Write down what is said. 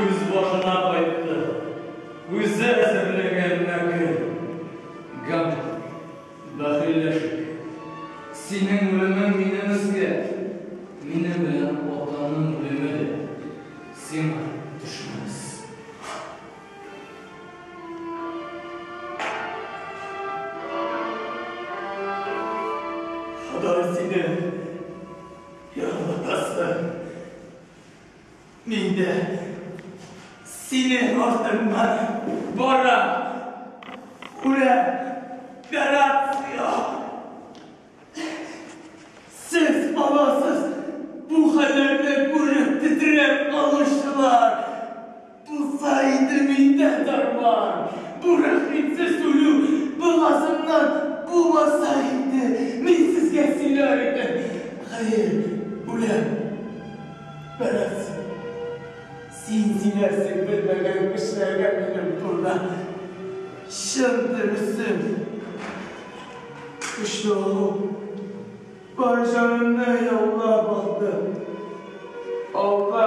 Үз башына кайтты. Үзе әзерләгән мәкер. Гамлет, бәхилләшик. Синең үлемең минем өскә, минем белән атаның үлеме дә сиңа төшмәс. Ходай сине ярлытасын! Мин дә синең артыңнан барам, күрәм, гарация! Сез аласыз бу хәлләрне күреп тетрәп калучылар! Булса иде миндә дарман! Бу рәхимсез үлү богазннан булмаса инде, мин сезгә сөйләр идем. Хәер, үләм. Бәрәс, син сөйләрсең белмәгән кешеләргә минем турыда. Чын дөресен, көчле олу бар җанымны яулап алды. Алда.